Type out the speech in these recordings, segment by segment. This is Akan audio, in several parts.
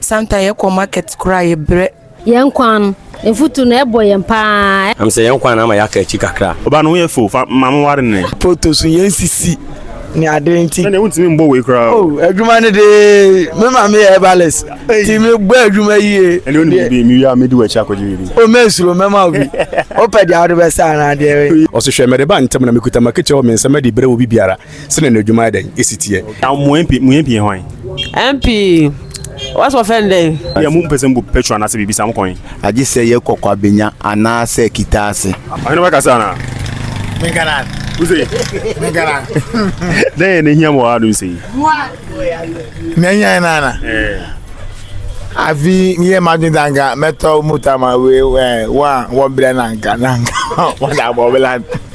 Santa yɛ kɔ market koraa yɛ brɛ. Yɛn kwan no mfuturu na ɛbɔ yɛn paa. Am sɛ yɛn kwan no ama yɛaka akyi kakra. Ɔbaa no ho yɛ fo, fa ma me nware no nnɛ. Photo so yɛn sisi ne ade nti. Ɛnneɛ wontumi mbɔ wei koraa o. Oh adwuma no de me maame yɛ herbalist nti me bɔ adwuma yie. Ɛnneɛ wonim biribi, me wie a mɛdi w'akyi akɔgye biribi. Oh mensuro mɛma wo bi, wopɛ deɛ wode bɛsa anaa deɛ. Ɔse hwɛ mede ba ntɛm na mekuta m'akatua wɔ me nsam de rebrɛ obi biara. Sɛ na n'adwuma ayɛ dɛn esi teɛ. Na mo MP mo MP yɛ hwan? MP wɔsɛ wɔfɛ no dɛn? Yɛ mo mpɛ sɛ mobu petrol anaasɛ biribi saa mokɔ he? Agye sɛ yɛ kɔ Kwabenya anaasɛ Kitaase. Ɔhene bɛkasa anaa? Menka no ara. Wose? Menka no ara. Dɛn yɛ na ehia mo wɔ ha nom sɛ yi? Na ehia yɛ no ara na. Ɛɛ. Afi meyɛ m'adwene sɛ anka mɛtɔ mota ma wei ɛɛ wɔn a wɔbrɛ no anka na anka wɔde abɔ bla.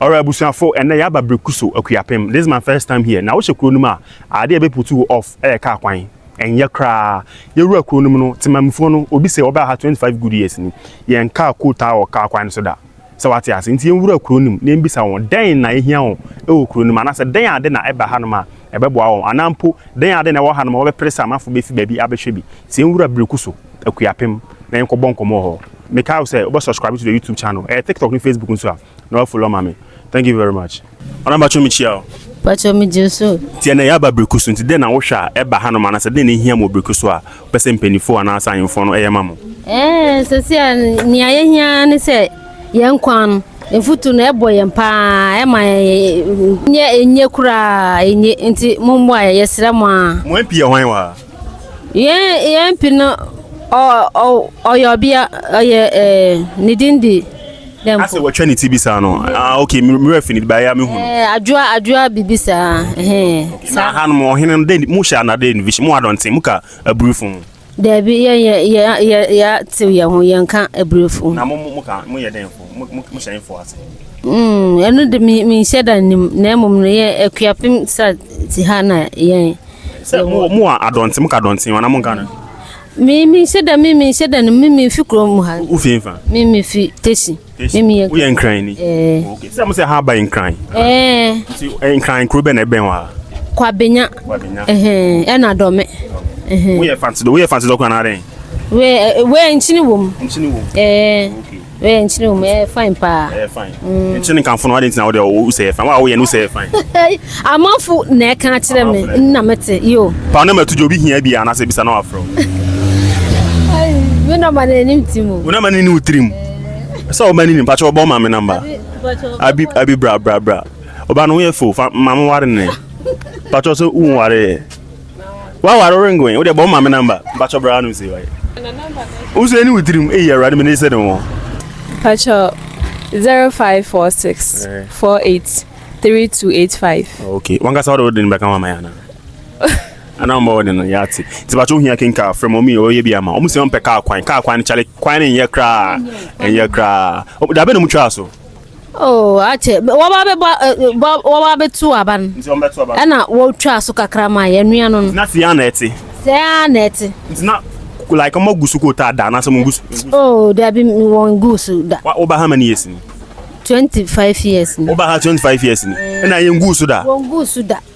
Alright abusuafo ɛnɛ yɛaba Brekuso Akuapem this is my first time here na wohyɛ kuro no mu a ade a ɛbɛ putu wo off ɛyɛ car kwan ɛnyɛ koraa yɛwura kuro no mu no Temammufoɔ no obi sɛ ɔbaa ha twenty five good years ni yɛn car ko taa wɔ car kwan no so da sɛ wate ase nti yɛnwura kuro no mu na yɛnbisa wɔn dɛn na ɛhia wɔn ɛwɔ kuro no mu anaasɛ dɛn ade na ɛba hanom a ɛbɛboa wɔn anaa mpo dɛn ade na ɛwɔ hanom a wɔbɛpere sɛ amanfoɔ bɛfi baabi abɛhwɛ bi sɛ yɛnwura Brekuso Akuapem na yɛnkɔ bɔ nkɔmɔ wɔ hɔ mekae wo sɛ wobɛ subscribe to the youtube channel ɛyɛ tiktok ne facebook nso a na wa follow ma me thank you very much ɔna mpakyɛ mekyia o mpakyɛ megye wo so tiɛ na yɛaba biriku so nti dɛn na wohwɛ a ɛba hanom anasɛ dɛn na ɛhia mu wɔ biriku so a wopɛ sɛ mpanifoɔ anaasɛ ahemfoɔ no ɛyɛ ma mo ɛɛ sɛsi a nea yɛhia ne sɛ yɛn kwan no mfutu no ɛbɔ yɛn paa ɛma yɛn nyɛ enye koraa enye nti mo mmoa yɛ yɛsrɛ mo a. mo mp yɛ hwan wɔ ha. Yɛn yɛn mpi no ɔyɛ ɔbea ɔyɛ ɛɛ ne din di. asɛ wɔtwa ne ti bi saa no ah okay mmerɛ fi ne bi baayɛ mehu no adwoa adwoa biribi saa na ha no ɔhene no dɛ mo hyɛ anadɛ innovation mo adɔnten mo ka aburifo ho daabi yɛ yɛ yɛ yɛ yɛ tew yɛn ho yɛn ka aburifo na mo mo ka mo yɛ dɛn fo mo mo hyɛ fo ase ɛno de menhyɛ da nim na mmom no yɛ akuapem sa ti ha na yɛn sɛ mowɔ mowɔ adɔnten moka adɔnten wɔn na monka no mimi sɛ dɛ mimi sɛ dɛ no mimi fi kurom mu ha wofi mfa mimi fi tesi mimi yɛ woyɛ nkran ni okay sɛ mo sɛ ha ba nkran ɛɛ nti nkran kuro bɛn na ɛbɛn wa kwabenya kwabenya ɛhɛn ɛna dɔme ɛhɛn woyɛ fanti woyɛ fanti dɔkɔ anaadɛn wei wei nkyini wom nkyini wom ɛɛ okay Ɛyɛ nkyene wɔ mu, ɛyɛ fine paa. Ɛyɛ fine. Mm. Nkyene ne nkamfo no, adɛn nti na wode wo sɛ ɛyɛ fine? Wo a woyɛ no, wo sɛ ɛyɛ fine. Amanfo na ɛka akyerɛ me, nna mete, yo. Paa na matu gya, obi hia bi a, anaasɛ bisa na wafrɛ wo. Me nɔma no anim ti mu. Wo nɔma no ne wo tiri mu. Eh. Sɛ ɔma no nim, pakyɛ ɔbɔ ma me namba. Abi, abi bra, bra, bra. Ɔba no ho yɛ fo, fa ma me ware ne. Pakyɛ sɛ wo nware yɛ. Wa wa ring wɛn o de bɔ ma me number mpacho bra no se waye o se ni witrim e ya rade me ne se ne wo mpacho 0546 48 3285 okay wanka sa o de ne beka wa ma ya na ana mo de no ya ti ti ba cho hia ken ka frɛ mo mi o ye bi ama o mu se on pe ka kwan ka kwan chale kwan ne ye kra en ye kra da be no mu twa so Oh, akyɛ wɔba bɛbɔ bɔ wɔba bɛto aba no. Nti wɔn bɛto aba no. Ɛna wɔtwa so kakra ma yɛ nua no no. Na fia na ɛte. Sɛa na ɛte. Nti na like wɔn agu so kota da na sɛ wɔn gu so. Oh, dabi wɔn gu so da. Wa wɔba ha ma ne yɛ sini. Twenty five years ni. Wɔba ha twenty five years ni. Ɛna yɛn gu so da. Wɔn gu so da.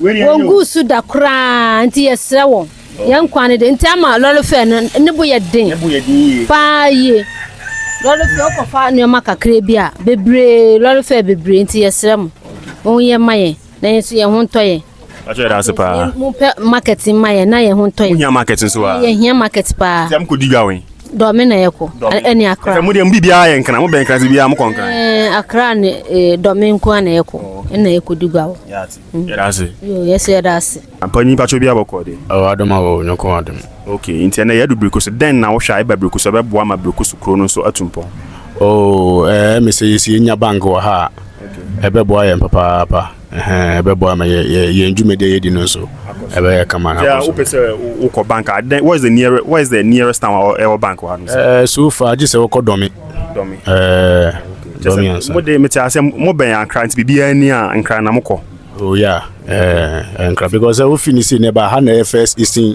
Wɔnguu so da koraa nti yɛsrɛ wɔn. Yɛn nkwa no de nti ama lɔre fɛɛ no ne bo yɛ den paa yie. Lɔre fɛɛ wokɔ fa nnoɔma kakra bi a bebree lɔre fɛɛ bebree nti yɛsrɛ mo mo yɛ ma yɛn na yɛn nso yɛn ho ntɔ yɛn. Yɛahyɛ yɛda ase paa. Mo pɛ market mma yɛn na yɛn ho ntɔ yɛn. Mo hia market nso a. Yɛhia market paa. Nti a mo kɔ di dwa wɛn. Dɔmi na yɛkɔ ɛne akra. Ɛfɛ mo deɛ mo biribiara yɛ nkran mo bɛn nkran sɛ biribiara mo kɔ nkran. Ɛɛ akra ne ɛɛ dɔmi nko na yɛkɔ ɛna yɛkɔ di gua hɔ. Yɛda ase. Yoo yɛsɛ yɛda ase. Ampa nyi mpatsɔ bi abɔkɔ de. Ɛwɔ adom a wɔ nyɔkɔ adom. Okay nti ɛnɛ yɛadu birikusu dɛn na wohwɛ a ɛba birikusu a ɛbɛboa ma birikusu kuro no nso atu mpɔn. Oo ɛɛ ɛmi sɛ yɛsi yɛnya bank wɔ ha a ɛbɛboa yɛn papaapa. Ɛbɛboa ma yɛn dwumadi a yɛdi no nso ɛbɛyɛ kama. Deɛ wopɛ sɛ wokɔ bank a, then what is the nearest what is the nearest town a ɛwɔ bank wɔ ha no? Ɛɛ so far gye sɛ wokɔ Dɔmi. Dɔmi. Ɛɛ Dɔmi ansa. Mo de mete ase mo bɛn Ankara nti biribiara ni a Ankara na mokɔ. Oh yeah, ɛɛ Ankara because sɛ wofi ne si na ɛba ha na ɛyɛ first eastern.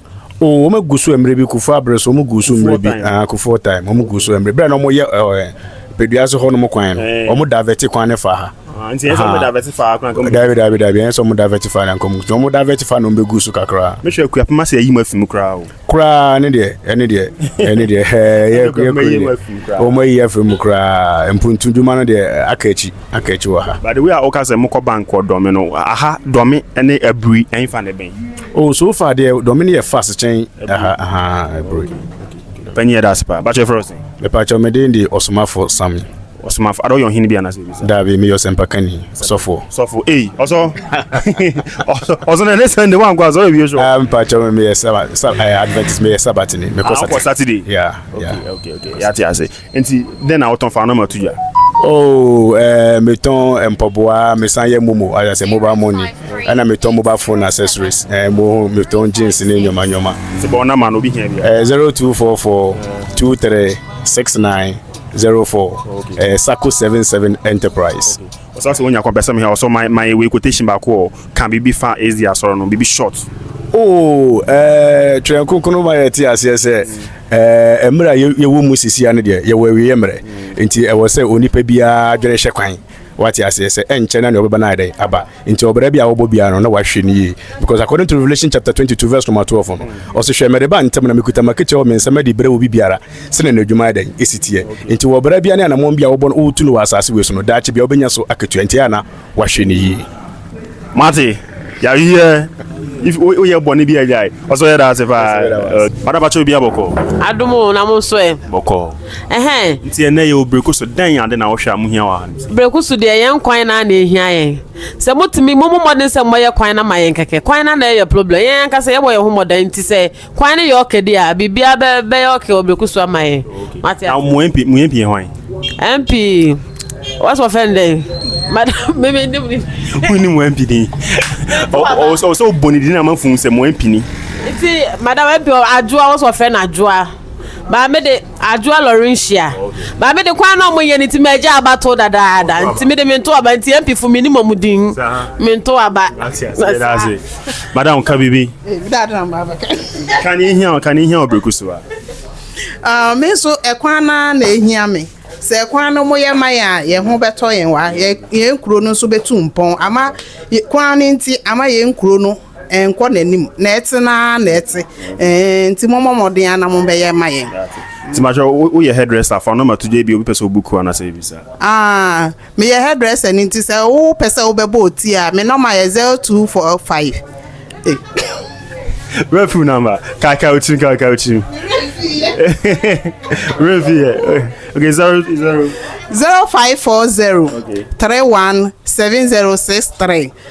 o wɔn agu so mmerɛ bi kufuo abere so wɔn gu so mmerɛ bi ah kufuo time wɔn gu so mmerɛ bɛrɛ na wɔn yɛ ɛɛ pedua so hɔ nom kwan no eh. wɔn davɛti kwan ne fa ha. Ah, nti ɛsɛ wɔn davɛti fa akora nkɔm. dabi dabi dabi ɛsɛ wɔn davɛti fa na nkɔm nti wɔn davɛti fa na wɔn bɛ gu so kakra. mehwɛ kua pema sɛ ɛyi mu afi mu koraa o. koraa ne deɛ ɛne deɛ ɛne deɛ ɛɛ yɛ yɛ kuro deɛ wɔn ayi afi mu koraa mpuntu dwuma no deɛ aka akyi aka akyi wɔ ha. by the way a wɔka sɛ mokɔ bank wɔ dɔmi no aha dɔmi ne abiri ɛnfa ne bɛn. Oh so far deɛ dɔme no yɛ fast kyɛn aha aha ɛboro yi. Panyin yɛ daase paa. Bakyɛ fɛrɛ ɔsɛn. Mepakyɛ me den de ɔsomafo Sami. Ɔsomafo ada ɔyɛ ɔhene bi anase ebi sa. Daabi meyɛ ɔsɛmpa kani ɔsɔfoɔ. Sɔfo ei ɔsɔ ɔsɔ na ne sɛn de wankɔ asɔre wie sɔ. Ah mepakyɛ me meyɛ saba saba eh, Adventist meyɛ sabatini mekɔ ah, saturday. Yeah yeah. Okay okay okay yate ase. Nti dɛn na wotɔn fa ano ma to dwa? Oh, eh, metɔn mpaboa, mesan yɛ momo, ayɛ sɛ mobile money, ɛna metɔn mobile phone accessories, eh, mo metɔn jeans ne nneɛma nneɛma. Nti bɔ wo number no, obi hia bi a. Eh, zero two four four two three six nine zero four, eh, Sako seven seven enterprise. Ɔsa sɛ onya kɔmpɛsɛm hɛn ɔsɔ man man ewei quotation baako ɔ ka biribi fa SDA asɔr no biribi short. Oo ɛɛɛ Twerɛ Kronkron no ma yɛte aseɛ sɛ ɛɛɛ mmerɛ a yɛwɔ mu sesia no deɛ yɛwɔ awieɛ mmerɛ nti ɛwɔ sɛ onipa biara adwene hyɛ kwan wate aseɛ sɛ ɛnkyɛ na nea ɔbɛba no ayɛ dɛn aba nti ɔbra bi a wɔbɔ biara no na wahwɛ no yie because according to Revelation chapter 22 verse number 12 no ɔse hwɛ mede ba ntɛm na mekuta m'akatua wɔ me nsam de brɛ obi biara sɛnea ne adwuma ayɛ dɛn si teɛ. Enti wɔ ɔbra biara ne anammɔn bi a wɔbɔ no wotu no wɔ asase wei so no, daakye biara wobɛnya so akatua. Enti ɛyɛ a na wahwɛ no yie. Mate, yareɛ, if woyɛ bɔne bi a gyae. Ɔsɛ ɔyɛ daase paa. Ɔda bakyɛ obi abɔkɔ. Adom o na mo nso ɛ. Bɔkɔ. Ɛhɛn. Nti ɛnɛ yɛwɔ breko so dɛn ade na wohwɛ a mo hia wɔ ha no. Breko so deɛ yɛn kwan naa na ɛhia yɛn. Sɛ motumi, mommɔ mmɔden sɛ mobɛyɛ kwan no ama yɛn kɛkɛ. Kwan no na ɛyɛ problem. Yɛn ankasa yɛbɔ yɛn ho mmɔdan nti sɛ Kwan no yɛ ɔkɛ di a, biribiara bɛ bɛyɛ ɔkɛ wɔ bereku so ama yɛn. Wate Na ase? mo MP mo MP yɛ hwan? MP, wɔsɛ wɔfɛ no dɛn? Madam, me me nim ne Mo ni mo MP din. Ɔwɔ sɛ ɔwɔ sɛ ɔbɔ ne din na ama fun sɛ mo MP ni. Nti, madam, MP, adwoa, wɔsɛ wɔfɛ no adwoa. Ba me de. Adwoa Laurentia, Ba me de kwan na ɔmo yɛ no nti m'agya aba to dadaada nti me de me nto aba nti MP fo me nim ɔmo din me nto aba. Yɛdaase. Madam ka biribi. Ka nea ehia wo ka nea ehia wo biriku so a. Ah, me nso ɛkwan no ara na ehia me. Sɛ ɛkwan no moyɛ ma yɛn a, yɛn ho bɛtɔ yɛn wɔ ha. Yɛn yɛn kuro no nso bɛtu mpɔn. Ama kwan no nti ama yɛn kuro no Ɛnkɔ n'anim na ɛte no ara na ɛte ɛɛn nti mommɔ mmɔden ara na mobɛyɛ ma yɛn. Nti mahwɛ wo woyɛ hairdresser fa wo number to gya ebia obi pɛ sɛ ɔbook wo anaasɛ biribi saa. Ah meyɛ hairdresser ni nti sɛ wo pɛ sɛ wo bɛ bɔ ɔti a me number yɛ zero two four five eh. Where phone number? Kai Kai Uchim, Kai Kai Uchim. Where here? Okay, zero zero. Zero five four zero okay. three one seven zero six three.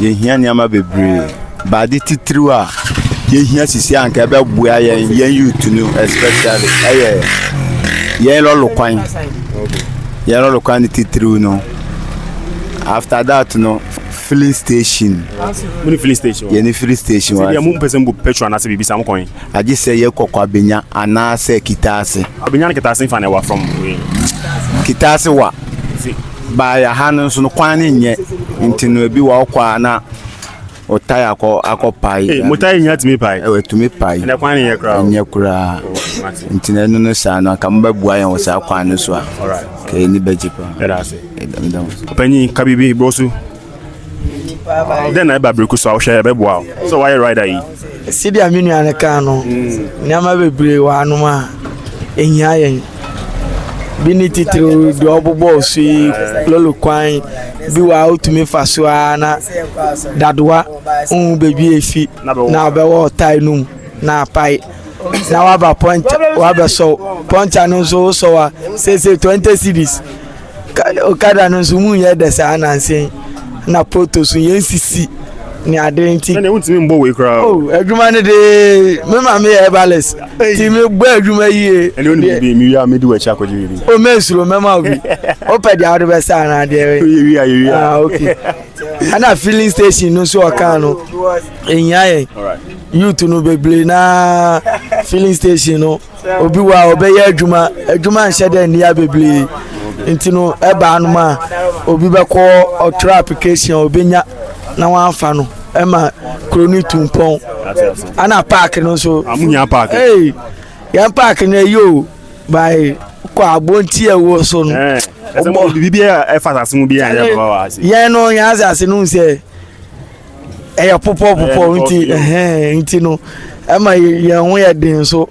Yɛhia nneɛma bebree. Baade titiriw a yɛhia sisi a nka ɛbɛboa yɛn yɛn youth no especially ɛyɛ yɛn lɔlo kwan. Yɛn lɔlo kwan no titiriw no. After that no filling station. Mo ni filling station. Yɛn ni filling station wa. Sɛ mo mpɛ sɛ mo petrol anaasɛ biribi sa mo kɔn. Agye sɛ yɛ kɔkɔ abenya anaasɛ kitaase. Abenya ne kitaase nfa na ɛwa from. Kitaase wa. Bae aha no nso no kwan no nyɛ nti no ebi wɔ ɔkɔ a na ɔtae akɔ akɔ pae. Ee mo tae nya tumi pae. Ɛwɔ tumi pae. Ɛnɛ kwan no nyɛ koraa. Nyɛ koraa. Oh, nti na ɛno no saa no anka mobɛboa yɛn wɔ saa kwan no so a. Alright. Kɛyɛ ni bɛgye pa. Ɛda ase. Ɛda ɛda. Ɔpanyin ka biribi bɔ so. Dɛn na ɛba bere ko so a wohwɛ ɛbɛboa wo sɛ woayɛ rider yi? Sɛdeɛ me nua no kaa no, nneɛma bebree wɔ hanom a ɛhia yɛn. Bi ne titiriw deɛ ɔbobɔɔ so yi, lolo kwan bi wɔ a wotumi fa so ara na dadoa nhu baabi a ɛfi na ɔbɛwɔ ɔtae no mu na apae na waba pɔnkya wabɛsɔw. Pɔnkya no nso wosɔw a, seesei 20 cedis. okada no nso mu nyɛ dɛ saa nanse na photo so yɛn sisi ne ade nti. ɛna ewu ntumi mbɔ wei koraa. o oh, adwuma no de me maa mi yɛ balance ti mi bɔ adwuma yie. ɛna onimiri eh, bi mi wia mi di wɔ akyi akɔgye biribi. o mɛ nsoro mɛma obi o pɛ deɛ ɔde bɛ sa ana adeɛ. yɛ wia yɛ wia. ah ok ɛna filling station no nso ɔkan no ehia yɛ youth no bebree na filling station no. obi wɔ a ɔbɛyɛ adwuma adwuma nhyɛ dɛ nnia bebree nti no ɛbaa nom a obi bɛkɔ ɔtwerɛ application a ɔbɛnya na wɔafa no ɛma kuro no tu mpɔn ana paaki no nso ee yɛn paaki no ɛyɛ o bae kɔ abonti ɛwɔ so no yɛn no yɛn asase no sɛ ɛyɛ popɔ popɔ nti ɛhɛn nti no ɛma yɛn ho yɛ den so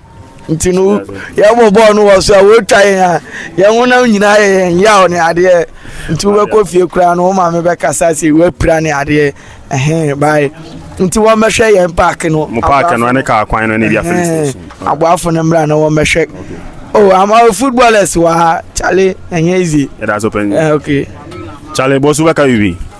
nti no yɛbɔ bɔɔl no wɔ so a wɔtwa yɛn a yɛn ho nam nyinaa yɛ yɛn yaw ne adeɛ nti wobɛkɔ fie koraa no wo maame bɛkasa sɛ woapira ne adeɛ ɛhɛn bae nti wɔmmɛhwɛ yɛn paake no mo paake no ne kaa kwan no ne bia filling station aboafo no mmra na wɔmmɛhwɛ oh i'm a footballers wa chale ɛnyɛ easy ɛda so pɛn okay chale bɔsu bɛka bibi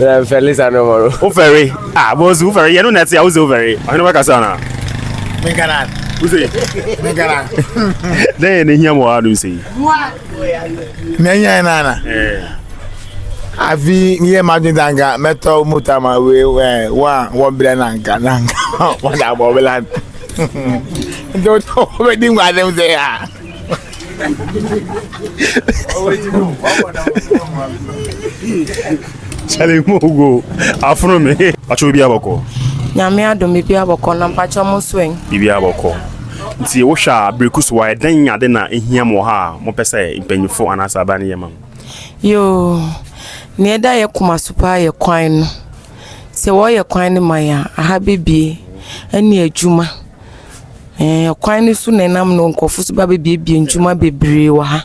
na mfɛ lisa no hɔ no wofɛre a bɔsu wofɛre yɛ no na ɛte a wose wofɛre ɔhene bɛkasa na menkana wose menkana dɛn yɛ ne hia mɔa nom sɛ yi mɛnyɛ nana afi yɛ madwen ta nka mɛtɔ mota ma wei wo a wɔbrɛ na nka na nka wɔda bɔbela nti wobɛdi nkwadem sɛ a Charlie mo go afono me. Pacho bi abɔkɔ. Nyame adom bi abɔkɔ na mpacho mo so en. Bi abɔkɔ. Nti wo hwa breku so wa ɛdɛn ade na ehia mo ha a mo pɛ sɛ mpanyinfo anaasɛ aban ne yɛ ma mo. Yoo. Nea ɛda yɛ koma so paa yɛ kwan no. Sɛ wɔyɛ kwan no ma yɛn a aha bɛbue ɛne adwuma. Ɛɛ, ɔkwan no so na ɛnam no nkurɔfo nso ba bebuebue nnwuma bebree wɔ ha.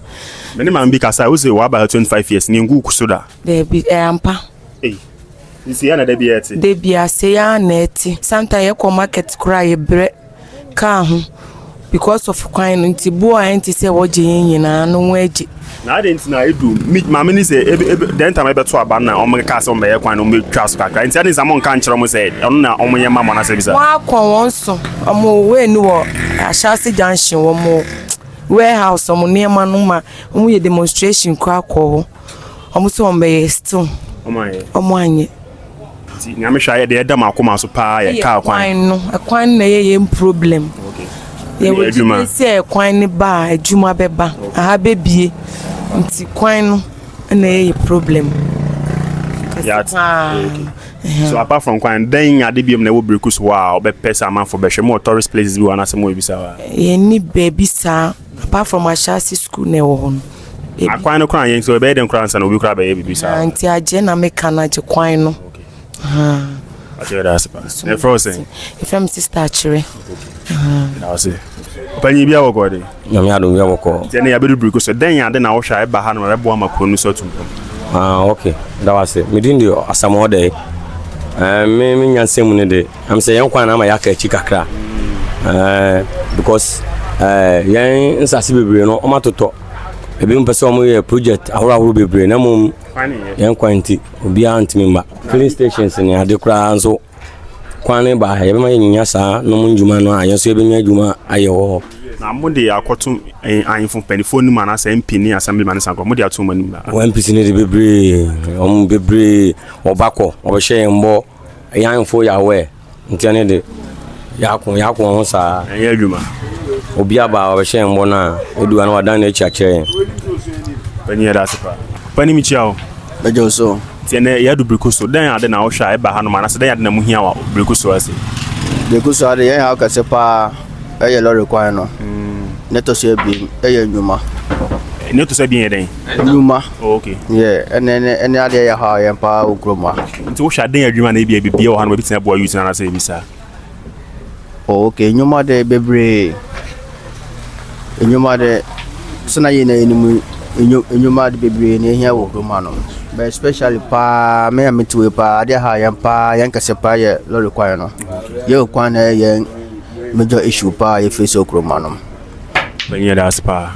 Me ne maame bi kasae, ose waba ha twenty five years, nea egu so da. Daabi, ɛyɛ ampa. Ei, nsii ara na da biara ɛte. Da biara, sei ara na ɛte. Sometimes yɛkɔ market koraa a, yɛbrɛ kaa ho because of kwan no nti. Bo a ɛnte sɛ wɔgye yɛn nyinaa no, wɔagye. Na adɛn nti na edu me maame ni sɛ ebe ebe dɛn ntam ɛbɛto aba no na wɔkaa sɛ wɔbɛyɛ kwan no wɔbɛtwa so kakra nti adɛn nti na monka nkyerɛ wɔn sɛ ɔno na wɔnyɛ mma mo anaasɛ bisa. Wɔakɔ wɔn so wɔn wei no wɔ Ahyɛase junction wɔn warehouse wɔn nneɛma no ma wɔyɛ demonstration koraa kɔɔ hɔ wɔn sɛ wɔbɛyɛ still wɔn anyɛ. Nti Nyame hwɛ ayɛ deɛ ɛda mo akoma so paa yɛ car kwan. Ɛyɛ kwan no, ɛkwan no na ɛyɛ yɛn problem. Yɛwɔ gyidie sɛ ɛkwan no ba a, adwuma bɛba, aha bɛbie. Nti kwan no na ɛyɛ yɛ problem. Yat. So apart from kwan, dɛn ade biom na ɛwɔ Berekus hɔ a ɔbɛpɛ sɛ amanfo bɛhwɛ? Mo wɔ tourist places bi wɔ anaasɛ mo wɔ ebisa hɔ a? Yɛn ni baabi saa. Apart from ahyɛase sukuu na ɛwɔ hɔ no. Akwan no koraa yɛn nti ɛbɛyɛ dɛn koraa ansa na obi koraa bɛyɛ biribi saa. Ah, nti agye na meka no agye kwan no. Akyerɛ da ase paa. Na ɛfrɛ wo sɛn? Ɛfrɛ me sista akyerɛ. Na ɔse. Ɔpanyin bi awɔ kɔɔ de. Nyame adom bi awɔ kɔɔ. Nti ɛne yɛabɛdu biriku so dɛn ade na wohwɛ a ɛba ha no ma ɛbɛboa ma kuro no so atum pam? Ah, ok. Da wo ase. Medin de Asamoah Dɛɛ. Eh, me me nyansɛm mu ne de. Ɛm sɛ yɛn kwan no ama yɛaka akyi kakra ɛɛ because ɛɛ yɛn nsase bebree no wɔn atotɔ ebinom pɛ sɛ wɔn yɛ project ahorow ahorow bebree na mmom yɛn kwan nti obiara ntumi mma filling stations ne ade koraa nso kwan ne ba yɛbɛma yɛnyanya saa nom ndwuma no a yɛn nso yɛbɛnya adwuma ayɛ wɔ hɔ. na mo de akɔto eh, ahemfo mpanimfoɔ no mu anaasɛ mp ne assemblyman ne sankora mo de ato wɔn anim na wɔn mpisi no de bebree wɔn bebree wɔba kɔ wɔbɛhyɛ yɛn bɔ Yɛn mfo Yahweh nteɛ ne de. Yɛako, yɛako wɔn ho saa. Ɛnyɛ adwuma. Obia baa ɔbɛhyɛ yɛn bɔ no a, odu a na wadan n'akyi akyerɛ yɛn. Panyin yɛda ase paa. Panyin mekyia wo. Mɛgye wo so. Nti ɛnɛ yɛadu Breku so. Dɛn ade na wohwɛ a ɛba hanom anaasɛ dɛn ade na ɛmu hia wɔ Breku so ha sei? Breku so ha de, yɛn haw kɛse paa yɛ lɔre kwan no. Nea ɛtɔ so abien yɛ nnwuma. Nea ɛtɔ so abien yɛ dɛn? Nnwuma. Oh, okay. Yeah, ɛne ɛne ɛne adeɛ yɛ haw yɛn paa wɔ kurom ha. Nti wohwɛ a dɛn yɛ adwuma na ebia bibia wɔ hanom a ebetumi aboa youth no anaasɛ biribi saa? Oh okay, nnwuma de bebree. Nnwuma de sɛ na yɛn na yɛn mu nnwuma de bebree na ehia wɔ kurom hanom. But especially paa me a me tiwe paa adeɛ ha yɛn paa yɛn kɛse paa yɛ lorry kwan no. Yɛn kwan na ɛyɛ yɛn major issue paa yɛ face wɔ kurom hanom. Bɛnyɛ da ase paa.